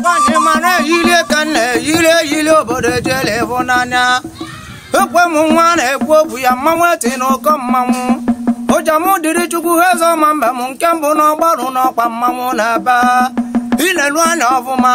nwaanyị mara eyiri ka m na-eyiri eyiri obodo ejele ịhụ n'anya ekwe m nwa na-ekwu okwu ya mmanwụ eti n'ụkọ mmanwụ ụja m dịrị chukwu ha eze ọma mbem nke mbụ n'ọgbarụ n'ọkwa mmanwụ na-ebe ilelu anya ọfụma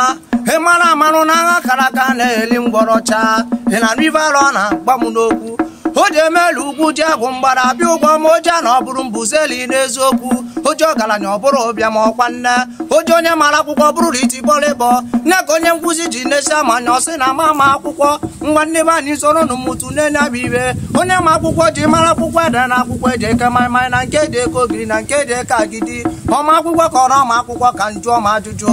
ị mara amara na agha akara aka anaghị eli ngwọrọ chaa ị na-anụ ife alụ na-agba m n'okwu o ji emelu ugwu ji agwụ mgbara abịa ụgwọ ma oja na ọ bụrụ mbuzeli n'eziokwu oji ọgaranya ọ bụrụ ụbịam ọkwa nne oji onye mara akwụkwọ bụrụ na iti bọlịbọ nne ka onye nkuzi ji nesi amanya ọ sị na ama ama akwụkwọ nwa nne be anyị soro nụ mụtụ nene nya bụ ife onye ma akwụkwọ ji mara akwụkwọ ede na akwụkwọ eji eke maịmaị na nke eji eke ogiri na nke eji eke agidi ọma akwụkwọ ka ọrụ ọma akwụkwọ ka m jụọ ma ajụjụ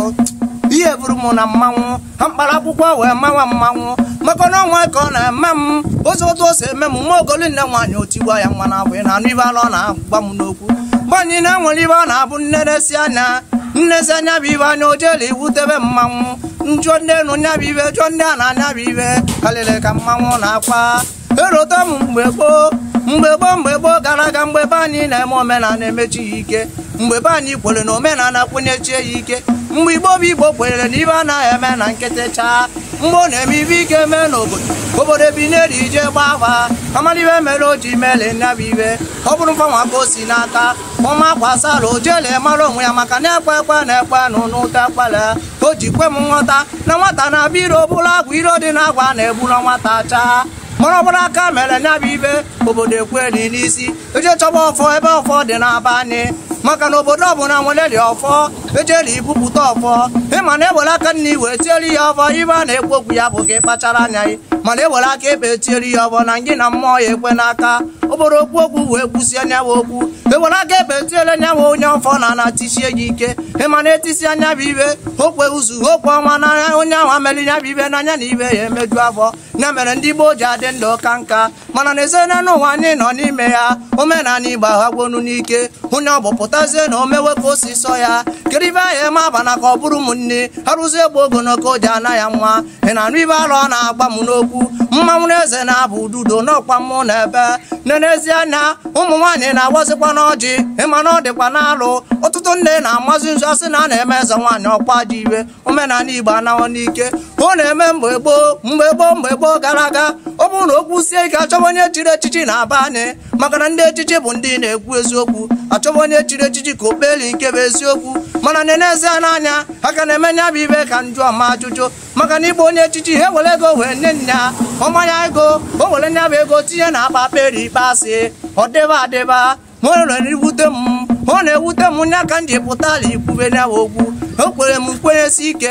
ihe buru m na mmanwụ ha mkpara akwụkwọ wee mawa mmanwụ maka na ọnwa ka ọ na-eme m ụzọ otu o si eme m nwa ogoli nne nwaanyị otigwa ya nwa na-abụ ị na-anụ ife alụ na-agba m n'okwu mgbanyị na-enwere ife ọ na-abụ nne na-esi anya nenezia nya bụ ife anya ojele iwute be mmanwụ m jụọ ndị enu nya bụ ife jụọ ndị ana nya bụ ife kalịrị ka mmanwụ na-akwa erota m mgbe gboo mgbe gboo mgbe gboo gara aga mgbe be anyị na-eme omenala emechie ya ike mgbe be anyị kwere na omenala kwenyechie ya ike mgbe igbo bụ igbo kwenyere na ife anaghị eme na nkịtị chaa mgbe ọ na-eme ife ike mee n'obodo obodo ebiniri je gbaa afa amalị ife mere o ji mele nya bụ ife ọ bụrụ mfanwa ka o si n'aka ọma kwasara ojele mara onwe ya maka na ekwe ekwe na-ekwe nụ n'ute akwala o ji kwe m nghọta na nwata na-abịa iro buru agwa iro dị na agwa na-egbu na nwata chaa mana ọ bụrụ aka mere nya bụ ife obodo ekweli n'isi eje chọba ọfọ ebe ọfọ dị n'aba anyị maka na obodo ọbụla nweleli ọfọ ejeli ibupụta ọfọ ị ma na ewere aka nni wee tieri ya ọfọ ife a na-ekwu okwu ya bụ gị kpachara anya gị mana ewere aka ekpe tieri ya ọfọ na ngị na mmụọ ya ekwe n'aka ọ bụrụ okwu okwu wee kwusia nya bụ okwu ewere aka ekpe tiele nya bụ onye ọfọ na ana tisie ya ike ị ma na etisia nya bụ ife o kwe izu o kwe ọnwa n'anya onye ahụ ameli nya bụ ife n'anya na ife ya emeju afọ ya mere ndị gboo ji adị ndụ aka nka mana na ezena n'ụwa anyị nọ n'ime ya omenala igbo aghagwonu n'ike onye ọ bụ pụtazie na o mewe ka o si sọ ya kedu ife ahụ eme abana ka ọ bụrụ ụmụnne arụzie egbe ogologo ji ana ya nwa ị na-anụ ife alụ na-agba m n'okwu mmanwụ na eze na-abụ ududo n'ọkwa mmanwụ na-ebe nne nezie na ụmụ nwaanyị na-awazikwanụ ọjị ị ma na ọ dịkwanụ alụ ọtụtụ nne na-amazi nzu a sị na a na-eme eze nwaanyị ọkwa ji iwe omenala igbo anaghọ n'ike ọ na-eme mgbe gboo mgbe gboo mgbe gboo gara aga ọ bụrụ na okwu sie ike achọba onye chiri echichi n'aba anyị maka na ndị echichi bụ ndị na-ekwu eziokwu a chọba onye chiri echichi ka o kpeli ikpe bụ eziokwu mana na-enezi ha n'anya ha ka na-eme nya bụ ife ka njụọ m ajụjụ maka na ịgba onye echichi ha were ego wee nye nya manye ya ego o were nya bụ ego tinye na akpa kperi ikpe asị ọ dịba adịba ma ọ rere iwute m ọ na-ewute m nya ka m ji pụtala ikwube nya bụ okwu ekwere m nkwenyesi ike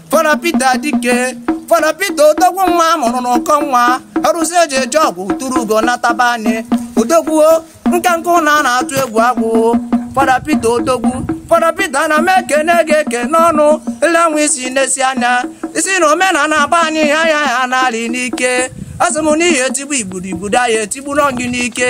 Fada Peter Dike Fada Peter odogwu nwa a mụrụ n'ụkọ nwa arụsị eji eje ọgụ turu ugo nataba anyị odogwu nkenke na a na-atụ egwu agwụ Fada Peter odogwu Fada Peter na m ekene gị ekene ọnụ elenwe isi n'esi anya isi na omenala agba anyị ha ya ha n'alị n'ike asị m n'ihi etigbu igbudo igbudo anyị etigbu n'ọgị n'ike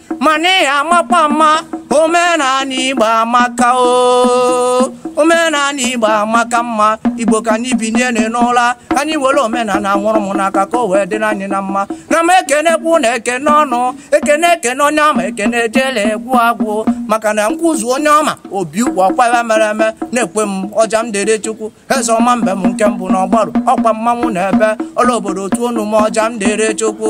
mana ị amakwa mma omenani igbo amaka o omenani igbo amaka mma igbo ka anyị binie n'ụra ka anyị were omenani nwụrụ m n'aka ka o wee dịrị anyị na mma na m ekenekwu na ekene ọnụ ekene ekene onye ama ekene ejele egwu agwụ maka na nkwụzu onye ọma obi ụkwa ọkwa ya mere eme na-ekwe m ọja m dere chukwu eze ọma mbe m nke mbụ n'ọgbaru ọkwa mmanwụ na ebe ole obodo otu onu m ọja m dịrị chukwu